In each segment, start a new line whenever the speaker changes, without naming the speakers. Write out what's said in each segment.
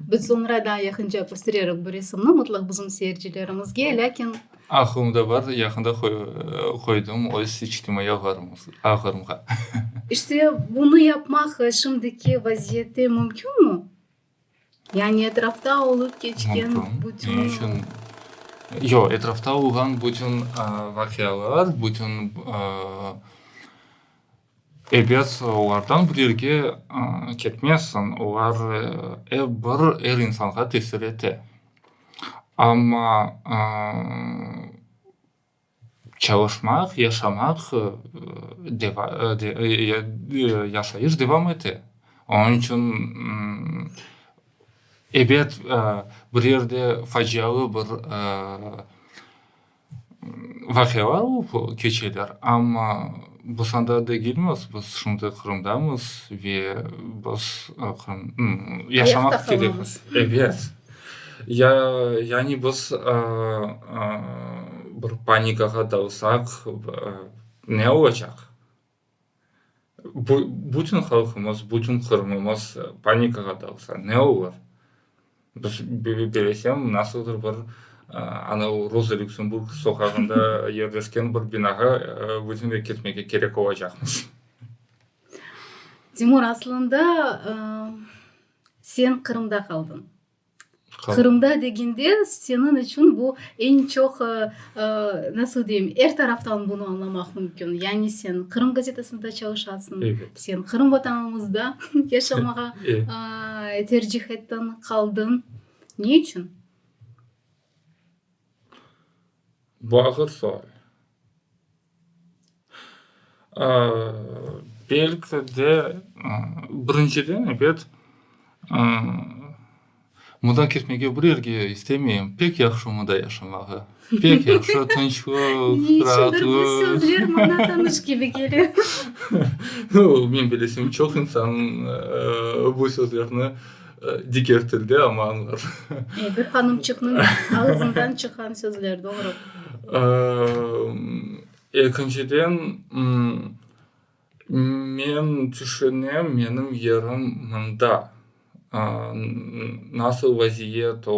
Biz soñra daa yaqınca köstererik bu resimni mıtlaq bizim seyircilerimizge, lâkin. Aqlımda bar,
yaqında qoydım öz içtimaiy ağlarımğa. İşte,
bunı yapmaq şimdiki vaziyette mümkünmi? Yani etrafta olıp keçken bütün. Mümkün. Ne içün?
Yoq, etrafta olğan bütün vaqialar, bütün ebet olardan bir yerge ketmezsiñ. Olar er bir, er insanğa tesir ete. Amma Çalışmaq, yaşamaq, yaşayış devam ete. Onıñ içün ebet bir yerde facialı bir vaqialar olıp keçeler, amma biz anda degilmiz, biz şimdi Qırımdamız ve biz yaşamaq isteymiz. Ya, yani biz bir panikağa dalsaq, ne olacaq? Bütün halqımız, bütün Qırımımız panikağa dalsa, ne olur? Biz, bilesem, nasıldır bir anav Roza Lüksemburg soqağında yerleşken bir binağa vıznev ketmege kerek olacaqmız.
Timur, aslında, Sen Qırımda qaldıñ. Qırımda degende seniñ içün bu eñ çoq, nasıl deyim, er taraftan bunı añlamaq mümkün. Yani sen Qırım gazetasında çalışasıñ, sen Qırım
Vatanımızda
yaşamağa tercih ettiñ, qaldıñ. Ne içün?
Bu ağır sual. Belki de, birinciden, ebet, mında ketmege bir yerge istemeyim. Pek yahşı mında yaşamağa. Pek yahşı, tınçlıq,
rahatlıq.
Men bilesem, çoq insan bu sözlerni. Diger tilde, amma añlar. E, bir
hanımçıqnıñ ağızından çıqqan sözler, doğru.
Ekinciden, men tüşünem, menim yerim mında, nasıl vaziyet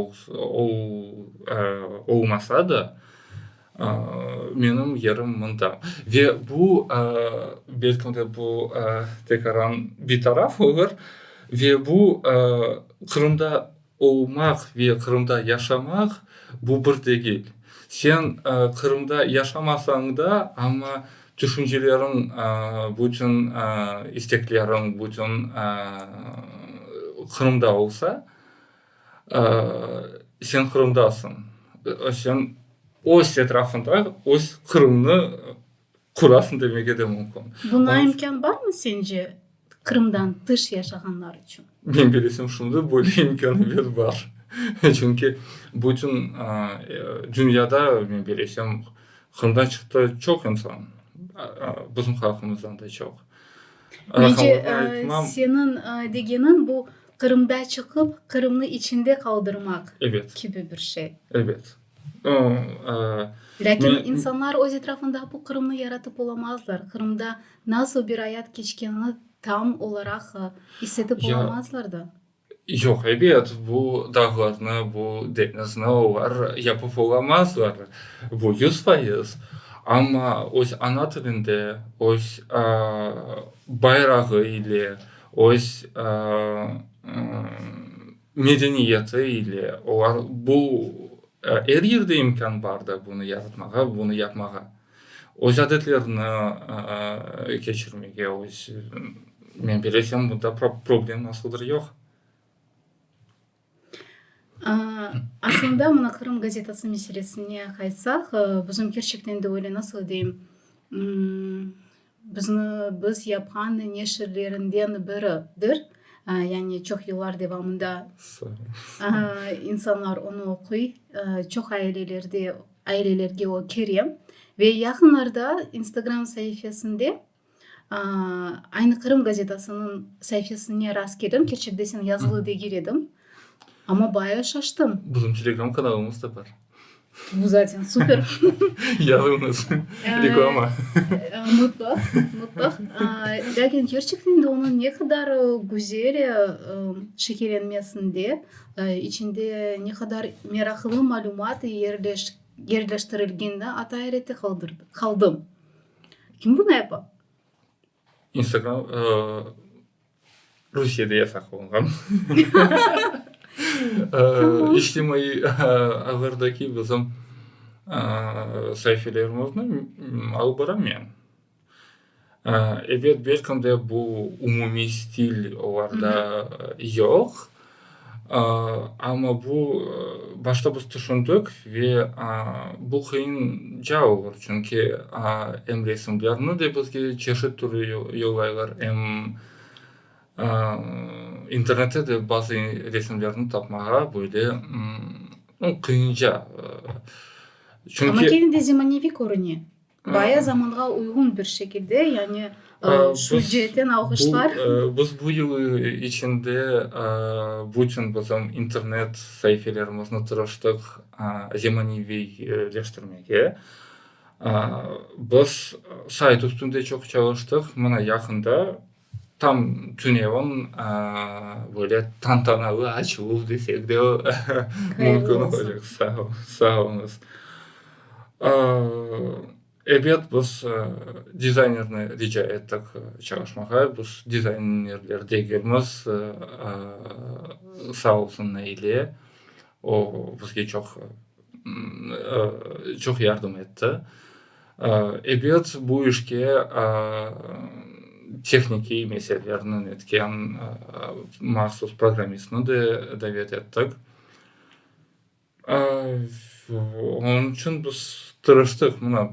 olsa da. Menim yerim mında. Ve bu, belkim de bu tekraren bir taraf olur, ve bu Qırımda olmaq ve Qırımda yaşamaq bu bir degil. Sen Qırımda yaşamasañ da, amma tüşünceleriñ, bütün istekleriñ, bütün Qırımda olsa, Sen Qırımdasıñ, sen öz etrafında öz Qırımnı qurasıñ demege de mümkün. Buña imkân
barmı sence Qırımdan tış yaşağanlar içün? Menim bilesim şunday,
böyle imkâniyet bar. Çünki bütün dünyada, men bilesem, Qırımdan çıqtı çoq insan, bizim halqımızdan da çoq. Mence,
seniñ degeniñ bu, Qırımda çıqıp, Qırımnı içinde qaldırmaq kibi bir şey. Evet. Lâkin insanlar öz etrafında bu Qırımnı yaratıp olamazlar, Qırımda nasıl bir ayat keçkenini tam olaraq issetip olamazlar da. Yoq, ebet,
bu dağlarnı, bu deñizni olar yapıp olamazlar, bu yüz fayız. Amma öz ana tilinde, öz bayrağı ile. öz medeniyeti ile olar bu er yerde imkân bardır bunı yaratmağa, bunı yapmağa, öz adetlerini keçirmege, öz, men bilesem, bunda problem asıldır yoq.
Aslında mına Qırım gazetası meselesine qaytsaq, bizim kerçekten de öyle, nasıl deyim, bizni, biz yapqan neşirlerinden biridir. Yani çoq yıllar devamında insanlar onu oquy, çoq ailelerde, ailelerge o kire. Ve yaqınlarda instagram saifesinde Aynı Qırım gazetasınıñ saifesine rast keldim, kerçekde sen yazılı degil ediñ, amma bayağı şaştım. Bizim Telegram kanalımız
da bar. Bu zaten
super. Yazıñız, reklama.
Mutlaq,
mutlaq. Lâkin kerçekten de onıñ ne qadar güzel şekillenmesinde, içinde ne qadar meraqlı malümat yerleştirilgenini ata ayrete qaldım. Kim bunı yapa?
İnstagram Rusiyede yasaq olunğan içtimaiy ağlardaki bizim saifelerimizni alıp baram men. Elbet, belkim de, bu umumiy stil olarda yoq. Amma bu, başta biz tüşündik ve bu qıyın ca olur, çünki em resimlerni de bizge çeşit türlü yollaylar, em internette de bazı resimlerni tapmağa böyle qıyınca.
Amma
kene de zemaneviy
körüne. Baya zamanğa uyğun bir şekilde, yani sücetten alğışlar. Biz bu yıl
içinde bütün bizim internet saifelerimizni tırıştıq zemaneviyleştirmege. Biz sayt üstünde çoq çalıştıq, mına yaqında Tam tünevim, böyle tantanalı açıluv desek de mümkün olacaq. Sağ ol, sağ olunız. Ebet, biz dizaynerni rica ettik çalışmağa, biz dizaynerler degilmiz. Sağ olsun Naile, o, bizge çoq, çoq yardım etti. Ebet, bu işke tehnikiy meselelerni etken mahsus programmistni de davet ettik. Onıñ içün biz tırıştıq, mına,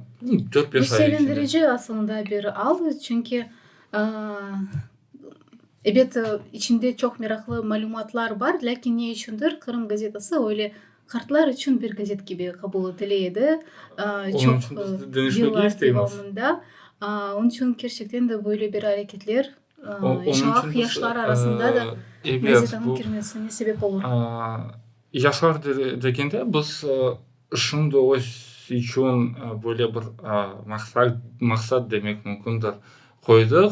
dört-beş ay içinde. Bu
sevindirici
aslında
bir al, çünki, ebet, içinde çoq meraqlı malümatlar bar, lâkin ne içündir Qırım gazetası öyle Qartlar içün bir gazet kibi qabul etile edi, çoq
yıllar devamında.
Onıñ içün kerçekten de böyle bir areketler
aq yaşlar arasında
da gazetanıñ
kirmesine
sebep
olur.
Yaşlar
degende biz şimdi öz içün böyle bir maqsat demek mümkündir, qoydıq.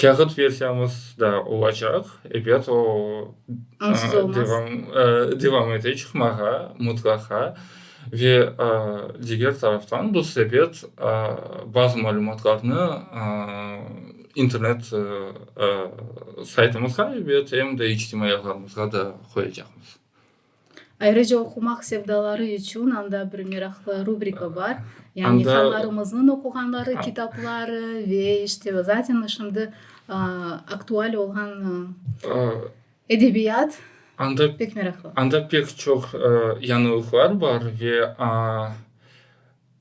Kâğıt versiyamız da olacaq, ebet, o,
devam, devam
ete çıqmağa, mutlaqa. Ve diger taraftan bu sebet bazı malümatlarnı internet saytımızğa, ebet, em de içtimaiy ağlarımızğa da qoyacaqmız.
Ayrıca oqumaq sevdaları içün anda bir meraqlı rubrika bar, yani hanlarımıznıñ
oquğanları
kitapları ve işte zaten şimdi aktual olğan edebiyat
pek meraqlı. Anda
pek çoq
yañılıqlar bar ve.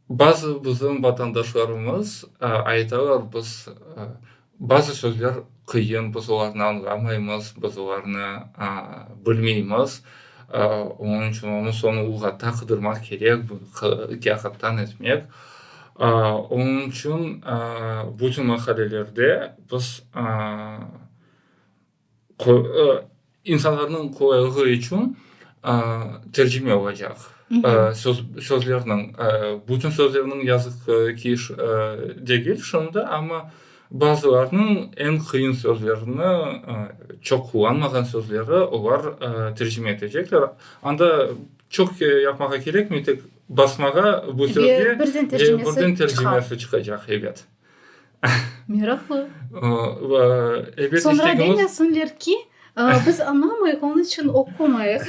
Bazı bizim vatandaşlarımız aytalar, biz bazı sözler qıyın, biz olarnı añlamaymız, biz olarnı bilmeymiz, onıñ içün onı soñu lüğatta qıdırmaq kerek, bunı kâğıttan etmek. Onıñ içün bütün maqalelerde biz İnsanlarnıñ qolaylığı içün tercime olacaq sözlerniñ, bütün sözlerniñ yazıq ki degil şimdi, amma bazılarnıñ eñ qıyın sözlerini, çoq qullanmağan sözleri olar tercime etecekler. Anda çoq yapmağa kerekmey, tek basmağa bu sözge ve birden
tercimesi
çıqacaq, evet.
Meraqlı.
Soñra
demesinler ki, biz añlamayıq, onıñ içün oqumayıq.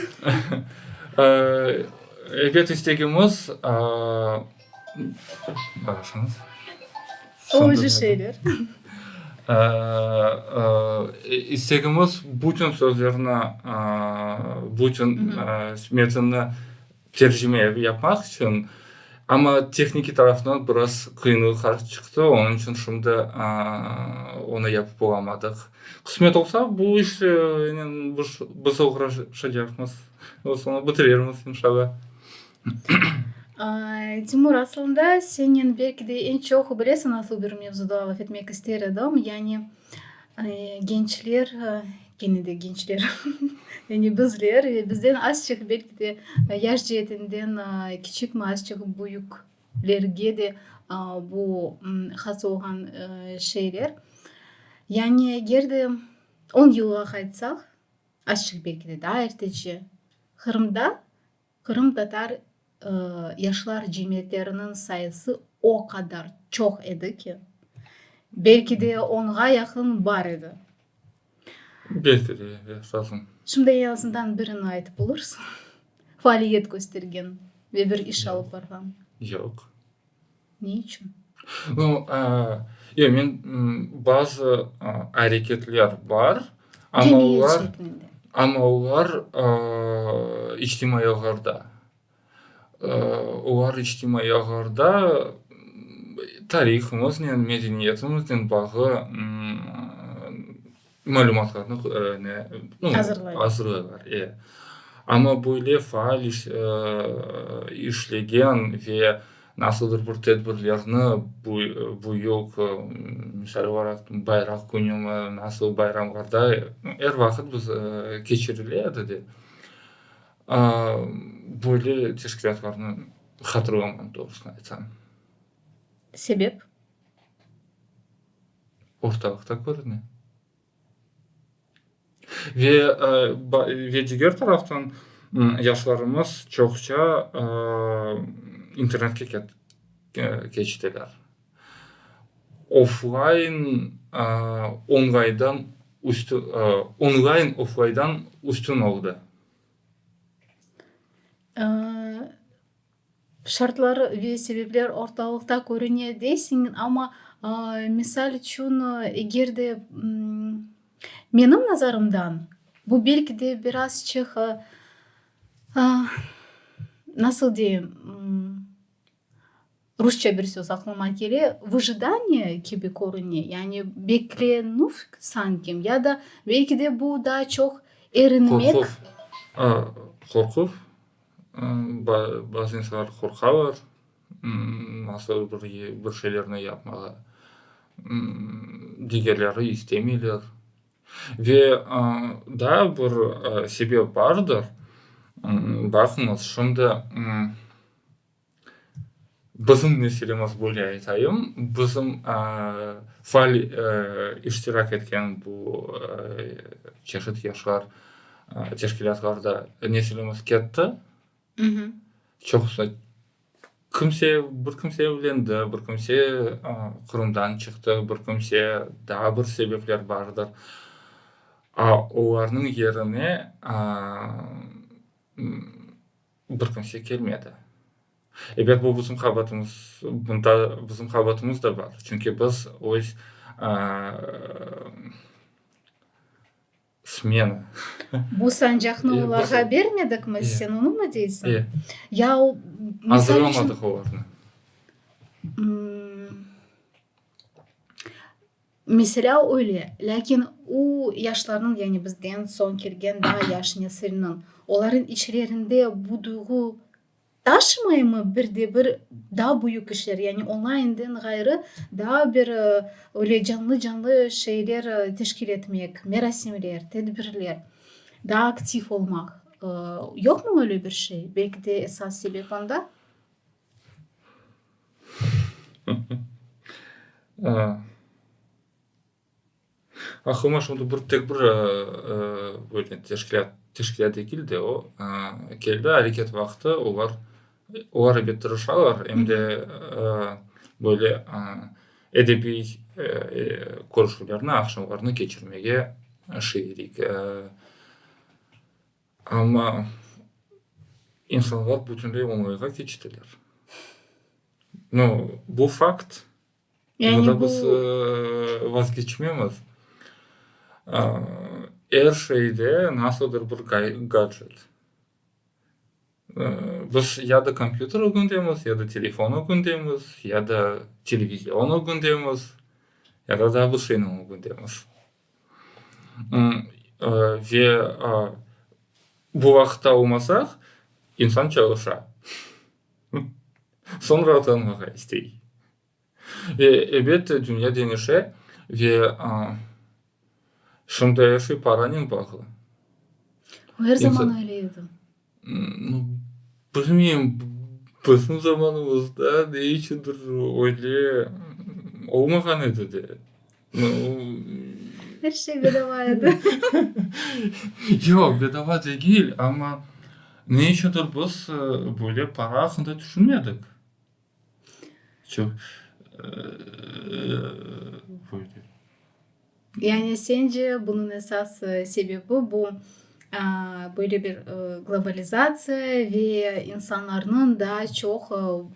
Ebet, istegimiz. Bağışlayıñız.
Olucı şeyler.
İstegimiz bütün sözlerni, bütün metnni. Tercime evi yapmaq içün, amma tehniki taraftan biraz qıyınlıqlar çıqtı, onıñ içün şimdi onı yapıp olamadıq. Qısmet olsa, bu işnen biz oğraşacaqmız ve soñra bitirirmiz, inşallah.
Timur, aslında senen belki de eñ çoq bilesiñ, nasıl bir mevzuda laf etmek ister edim, yani, Gençler, kene de gençler, yani bizler, bizden azçıq belki de yaş ceetinden kiçikmi, azçıq büyüklerge de bu has olğan şeyler. Yani eger de on yılğa qaytsaq, azçıq belki de daa ertece, Qırımda Qırımtatar yaşlar cemiyetleriniñ sayısı o qadar çoq edi ki, belki de onğa yaqın bar edi.
Belki de, ya sazım. Şimdi en azından
birini aytıp olursan, faaliyet köstergen ve bir iş alıp barğan. Yoq.
Ne
içün?
No, ya, men bazı areketler bar, amma olar,
amma olar
içtimaiy ağlarda. Olar içtimaiy ağlarda tarihımıznen, medeniyetimiznen bağı Malümatlarnı azırlaylar. E, amma böyle faal işlegen ve nasıldır bir tedbirlerni bu yıl, misal olaraq, Bayraq künümi, nasıl bayramlarda er vaqıt biz keçirile edi de, böyle teşkilâtlarnı hatırlamam, doğrusını aytsam.
Sebep?
ortalıqta körüne. Ve, ve diger taraftan, yaşlarımız çoqça internetke ket, keçtiler. Oflayn, onlaydan üstü, onlayn oflaydan üstün oldı.
Şartlar ve sebepler ortalıqta körüne deysiñ, amma, misal içün, eger de menim nazarımdan, bu belki de biraz çıq, nasıl deyim, rusça bir söz aqlıma kele, vıjıdaniye kibi körüne, yani beklenüv sanki, ya da belki de bu daa çoq erinmek. Qorquv,
qorquv? Bazı insanlar qorqalar, nasıl bir şeylerni yapmağa, digerleri istemeyler. Ve daa bir sebep bardır, baqıñız, şimdi Bizim meselemiz, böyle aytayım, bizim faal iştirak etken bu çeşit yaşlar teşkilâtlarda nesilimiz ketti. Çoqusı kimse, bir kimse evlendi, bir kimse Qırımdan çıqtı, bir kimse daa bir sebepler bardır. Olarnıñ yerine Bir kimse kelmedi. Ebet, bu bizim qabaatımız, bunda bizim qabaatımız da bar. Çünki biz öz smena. Bu
sancaqnı olarğa bermedikmi, sen onımı deysiñ? E. Ya o, misal içün. Azırlamadıq
olarnı.
Meselâ öyle, lâkin u yaşlarnıñ, yani bizden soñ kelgen daa yaş nesilniñ, olarnıñ içlerinde bu duyğu taşımaymı? Bir de bir daa büyük işler, yani onlayından ğayrı daa bir öyle canlı-canlı şeyler teşkil etmek, merasimler, tedbirler, daa aktiv olmaq, yoqmı öyle bir şey? Belki de esas sebep onda.
Aqlıma şu anda bir, tek bir böyle teşkilât, teşkilât degil de o, keldi, areket vaqtı olar, olar elbet tırışalar, em de böyle edebiy körüşüvlerni, aqşamlarnı keçirmege şiirlik Amma insanlar bütünley oñayğa keçtiler. No, bu fakt, bundan
biz
vazgeçmemiz. Er şeyde nasıldır bir gadjet. Biz ya da kompyuter ögündemiz, ya da telefon ögündemiz, ya da televizion ögündemiz, ya da daa bir şeyniñ ögündemiz. Ve bu vaqıtta olmasaq, insan çalışa, soñra utanmağa istey. Ve, ebet, dünya deñişe ve şimdi er şey paranen bağlı.
O er zaman
öyle edi. Bilmeyim, bizim zamanımızda ne içündir öyle olmağan edi de. Er
şey bedava edi. Yoq,
bedava degil, amma ne içündir biz böyle para aqqında tüşünmedik.
Yani sence bunıñ esas sebebi bu böyle bir globalizatsiya ve insanlarnıñ daa çoq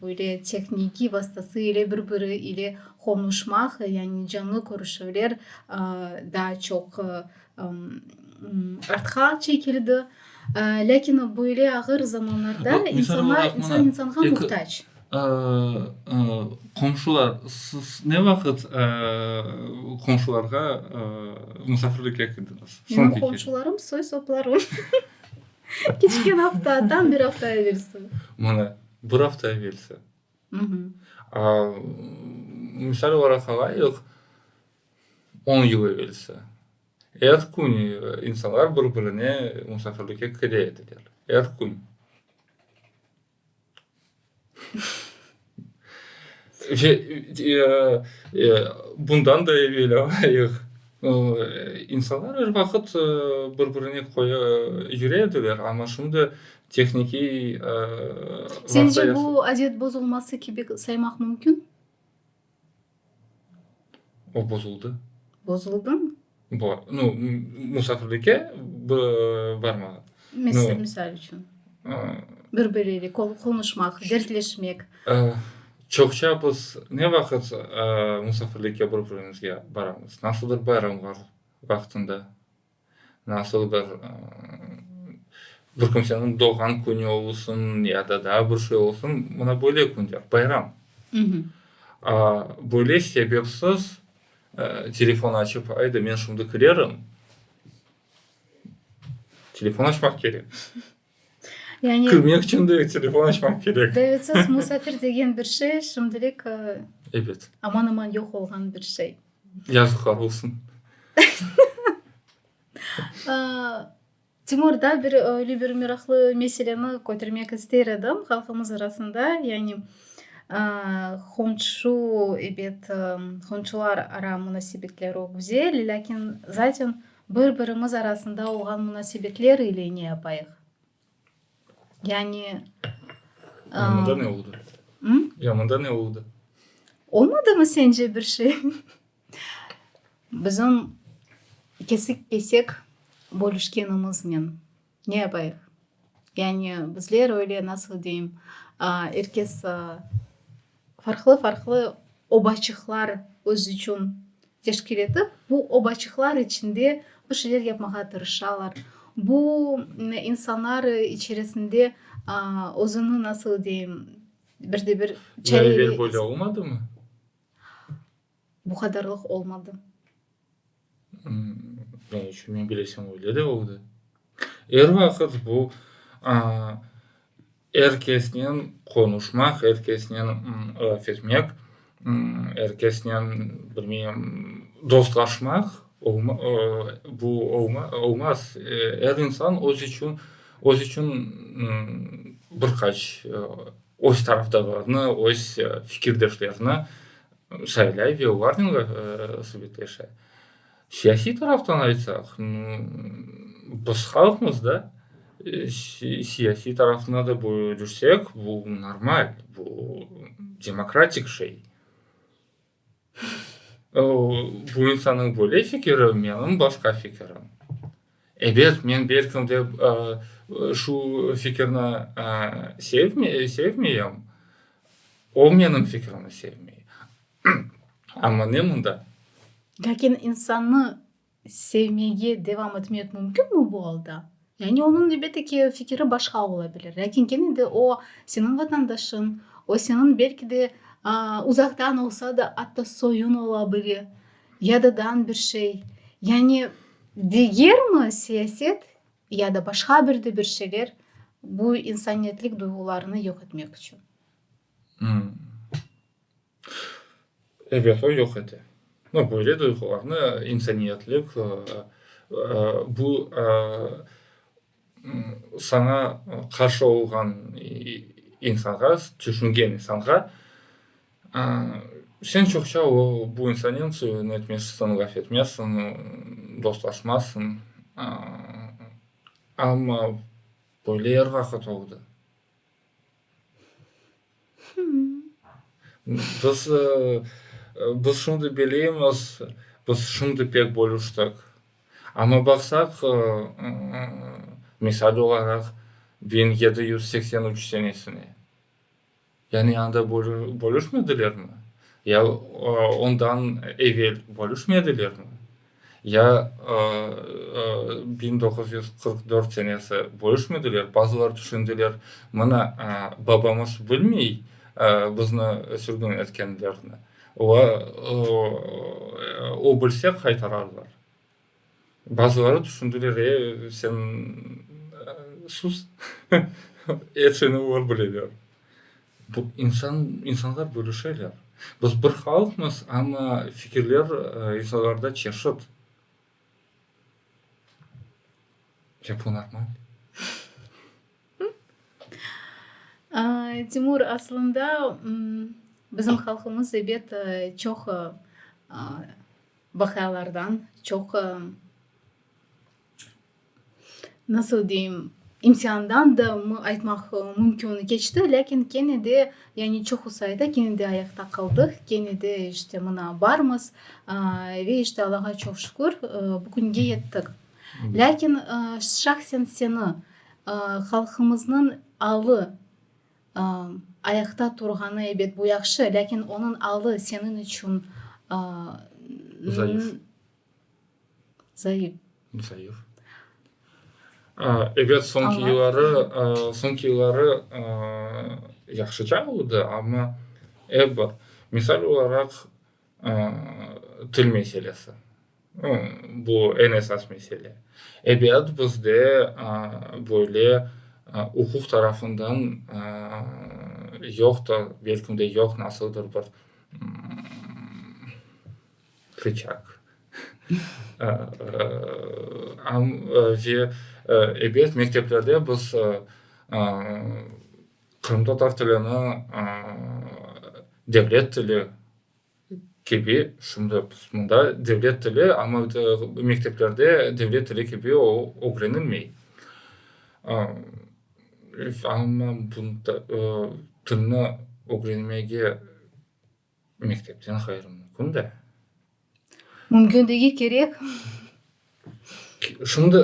böyle tehniki vastası ile bir biri ile qonuşmaq, yani canlı körüşüvler daa çoq Artqa çekildi. Lâkin böyle ağır zamanlarda insan
insanğa muhtac. Qomşular, siz ne vaqıt qomşularğa musafirlikke kirdiñiz? Menim qomşularım soy soplarım.
Keçken afta, tam bir afta evelsi. Mana, bir
afta evelsi. Misal olaraq alayıq. On yıl evelsi, er kün insanlar bir-birine musafirlikke kele ediler. Er kün. Ve bundan da evel alayıq, insanlar er vaqıt bir-birine köye yüre ediler, amma şimdi tehniki
Señce bu adet bozulması kibi saymaq mümkün?
O bozuldı. Bozuldımı?
Bo, nu,
musafirlike b, barmağa. Mes,
misal içün.
Bir-biriyle ko,
qonuşmaq, dertleşmek.
Çoqça biz ne vaqıt musafirlike bir-birimizge baramız? Nasıldır bayramlar vaqtında. Nasıl bir bir kimseniñ doğğan künü olsun ya da daa bir şey olsun, mına böyle künler, bayram. Böyle sebepsiz telefon açıp, ayda men şimdi kirerim, telefon açmaq kerek.
Yani. Kirmek içün de
telefon açmaq kerek. Davetsiz musafir
degen bir şey şimdilik. Evet.
Aman aman yoq
olğan bir şey. Yazıqlar olsun. Timur da bir öyle bir meraqlı meseleni kötermek ister edim halqımız arasında. Yani qonşu ebet qonşular ara munasebetleri güzel. Lâkin zaten Bir-birimiz arasında olğan munasebetler ile ne yapayıq? Yani, Yamanda
ne oldı? Hı? Yamanda
ne oldı?
Olmadı
mı sence bir şey? Bizim kesik-kesek bölüşkenimiznen. Ne yapayıq? Yani bizler öyle, nasıl deyim, er kes farqlı-farqlı obaçıqlar özü içün teşkil etip, bu obaçıqlar içinde bir şeyler yapmağa tırışalar. Bu insanlar içerisinde özüni, nasıl deyim, bir de bir. Lâlivel böyle
olmadımı?
Bu qadarlıq olmadı.
Ne içün? Men bilesem, öyle de oldı. Er vaqıt bu, er kesnen qonuşmaq, er kesnen laf etmek, er kesnen, bilmeyim, dostlaşmaq, bu olmaz. Er insan öz içün, öz içün bir qaç öz tarafdarlarını, öz fikirdeşlerini saylay ve olarnıñla subetleşe. Siyasiy taraftan aytsaq, biz halqmız da, siyasiy tarafına da bölüşsek, bu normal, bu demokratik şey. Bu insannıñ böyle fikiri, menim başqa fikirim. Ebet, men belkim de şu fikirni sevmeyem, o menim fikrimni sevmey. Amma ne mında? Lâkin
insannı sevmege devam etmek mümkünmi bu alda? Yani onıñ, elbette ki, fikiri başqa ola bilir, lâkin kene de o, seniñ vatandaşıñ, o, seniñ belki de uzaqtan olsa da atta soyuñ ola bile. Yadıdan bir şey, yani digermi siyaset ya da başqa bir de bir şeyler bu insaniyetlik duyğularını yoq etmek içün?
Evet, o yoq ete. No, böyle duyğularnı insaniyetlik, bu. Saña qarşı olğan insanğa, tüşüngen insanğa sen çoqça o, bu insannen ne etmezsiñ, laf etmezsiñ, dostlaşmazsıñ. Amma böyle er vaqıt oldı. Biz, biz şimdi bilemiz, biz şimdi pek bölüştik. Amma baqsaq, misal olaraq, biñ yedi yüz seksen üç senesine, yani anda bölüşmedilermi? Ya ondan evel bölüşmedilermi? Ya biñ doquz yüz qırq dört senesi bölüşmediler, bazılar tüşündiler, mına, babamız bilmey bizni sürgün etkenlerini, va o bilse qaytararlar. Bazıları tüşündiler, e, sen sus, epsini olar bileler. Bu insan, insanlar bölüşeler. Biz bir halqmız, amma fikirler insanlarda çeşit. Ya bu normal?
Timur, aslında bizim halqımız ebet çoq vaqıalardan, çoq. nasıl deyim, imtiandan da mı aytmaq mümkün keçti, lâkin kene de, yani çoqu sayıda kene de ayaqta qaldıq, kene de işte mına barmız. Ve işte Allağa çoq şükür, bu künge yettik. Lâkin şahsen seni halqımıznıñ alı ayaqta turğanı, ebet, bu yahşı, lâkin onıñ alı seniñ içün, Zayıf. Zayıf.
Ebet, soñki yılları, soñki yılları yahşıca oldı, amma ep bir, misal olaraq, til meselesi. Bu, eñ esas mesele. Ebet, bizde böyle uquq tarafından yoqtır, belki de yoq, nasıldır bir, Rıçak. Am ve ebet, mekteplerde biz qırımtatar tilini devlet tili kibi, şimdi mında devlet tili, amma mekteplerde devlet tili kibi o ögrenilmey. Amma tilni ögrenmege Mektepten ğayrı mümkün de.
Mümkündigi kerek.
Şimdi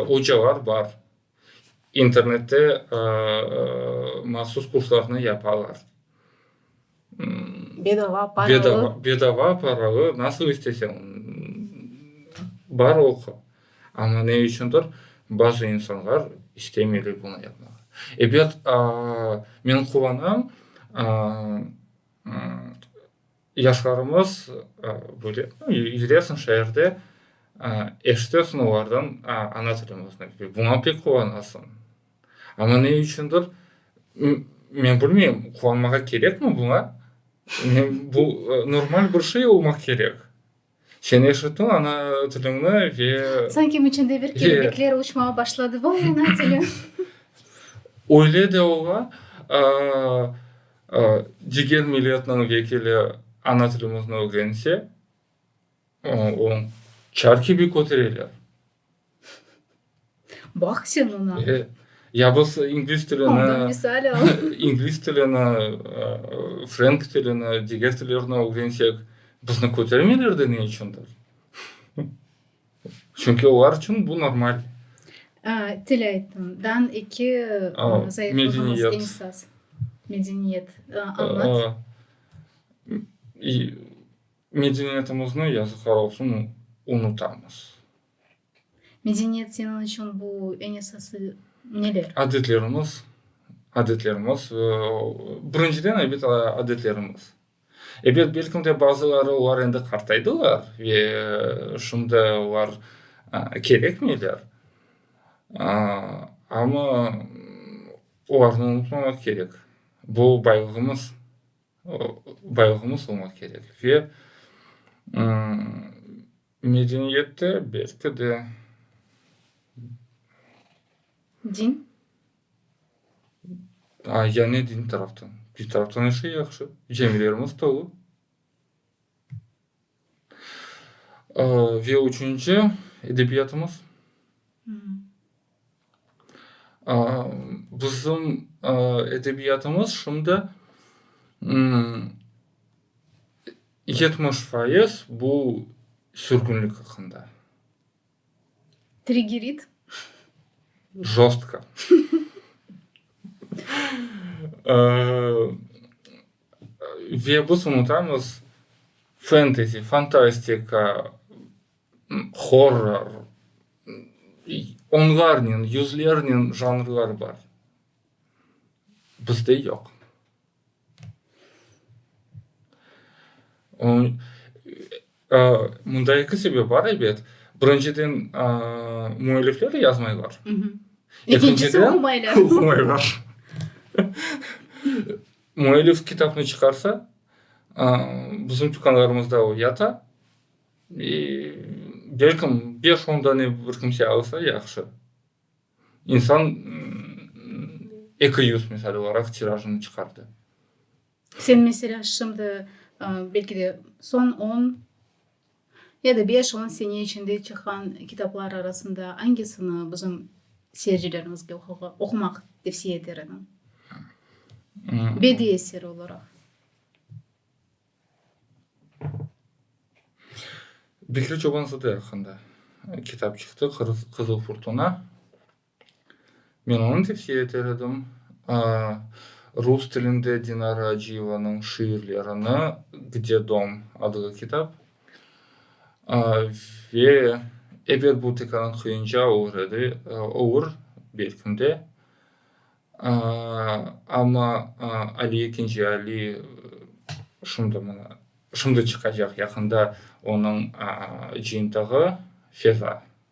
ocalar bar, internette mahsus kurslarnı yapalar.
Bedava, paralı. Bedava, paralı,
nasıl istesen, bar oqu. Amma ne içündir, bazı insanlar istemeyler bunı yapmağa. Ebet, men quvanam, yaşlarımız böyle yüresin şeerde, eşitesin olardan ana tilimizni. Buña pek quvanasıñ. Amma ne içündir, men bilmeyim, quvanmağa kerekmi buña? Bu, normal bir şey olmaq kerek. Sen eşittin ana tiliñni ve. Sanki içinde bir
kelebekler uçmağa başladı, vay ana tilim.
Öyle de ola, diger milletniñ vekili ana tilimizni ögrense, oñ çar kibi kötereler.
Baq sen oña! E, ya bolsa
ingliz tilini, Ondan misal al.
ingliz tilini,
ıı, frenk tilini, diger tillerni ögrensek, bizni kötermeylerdi ne içündir? Çünki olar içün bu normal. A,
til ayttın. Dan eki A, zayıflığımız medeniyet. eñsaz. Medeniyet. A, añlat.
Aa, i, Medeniyetimizni, yazıqlar olsun, unutamız.
Medeniyet seniñ içün bu eñ esası neler? Adetlerimiz,
adetlerimiz. Birinciden, elbet, adetlerimiz. Elbet, belkim de, bazıları olar endi qartaydılar ve şimdi olar kerekmeyler. Amma olarnı unutmamaq kerek. Bu, baylığımız. baylığımız olmaq kerek ve medeniyette belki de
din
yani din taraftan, din taraftan her şey yahşı, camilerimiz tolu. Ve üçünci, edebiyatımız. Bizim edebiyatımız şimdi yetmiş faiz bu sürgünlik aqqında.
Trigerit.
Jostko. Ve biz unutamız fentezi, fantastika, horror, onlarnen, yüzlernen janrlar bar. Bizde yoq. Mında eki sebep bar, ebet. Birinciden, müellifler yazmaylar.
Ekinciden, oqumaylar.
Müellif kitapnı çıqarsa, bizim tükânlarımızda o yata. E, belkim beş-on dane bir kimse alsa, yahşı. İnsan eki yüz, misal olaraq, tirajını çıqardı.
Sen, meselâ, şimdi, belki de, soñ on. Ya da beş-on sene içinde çıqqan kitaplar arasında angisini bizim seyircilerimizge oqumaq tevsiye eter ediñ? Bediy eseri olaraq.
Bekri Çoban-Zade aqqında kitap çıqtı, Qızıl furtuna. Men onı tevsiye eter edim. Rus tilinde Dinara Aciyevanıñ şiirlerini Gde dom adlı kitap ve eber bu tekrardan qıyınca olur edi, olur belkim de. Amma Ali Ekinci Ali şimdi mına, şimdi çıqacaq yaqında onıñ cıyıntığı Feza.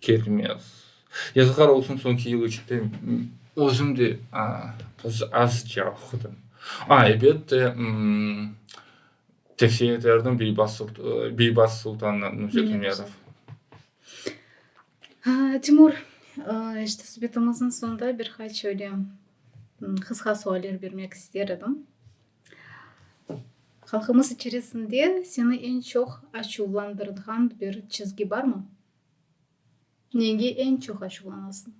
Kelmez. Yazıqlar olsun, soñki yıl içinde özüm de azca oqudım. A, elbette, tevsiye eterdim Beybaz Sultan Nurzetunyazov.
Timur, işte subetimiziñ soñunda bir qaç öyle qısqa sualler bermek ister edim. Halqımız içerisinde seni eñ çoq açuvlandırğan bir çizgi barmı? Nege eñ çoq açuvlanasıñ?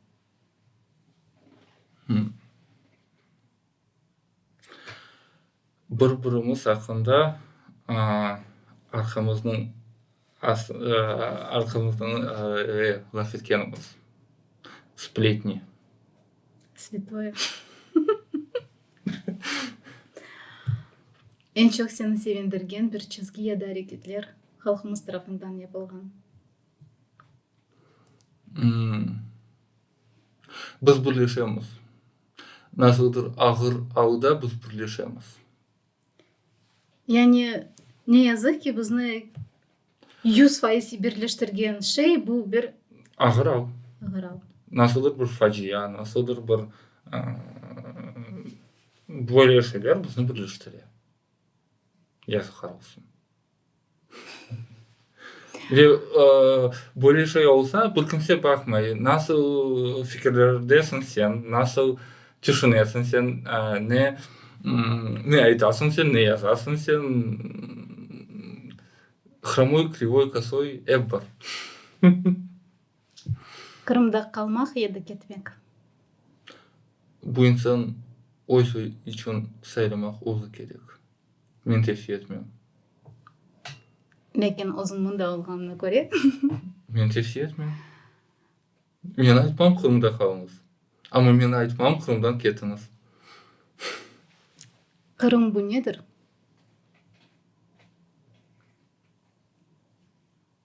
Bir-birimiz aqqında arqamıznıñ Arqamızdan laf etkeniñiz, spletni.
Svetoye. Eñ çoq seni sevindirgen bir çizgi ya da areketler halqımız tarafından yapılğan?
Biz birleşemiz. Nasıldır ağır alıda biz birleşemiz. Yani,
ne yazıq ki, bizni yüz faiz birleştirgen şey bu bir. Ağırav.
Ağırav.
Nasıldır bir
facia, nasıldır bir böyle şeyler bizni birleştire. Yazıqlar olsun. Ve böyle şey olsa, bir kimse baqmay, nasıl fikirlerdesiñ sen, nasıl tüşünesiñ sen, ne aytasıñ sen, ne yazasıñ sen, hromoy, krivoy, kosoy, ep bar.
Qırımda qalmaq ya da ketmek?
Bu insan öz içün saylamaq özü kerek. Men tevsiye etmem. Lâkin
özün mında olğanına köre. Men tevsiye
etmem. Men aytmam Qırımda qalıñız. Amma men aytmam Qırımdan ketiñiz.
Qırım bu nedir?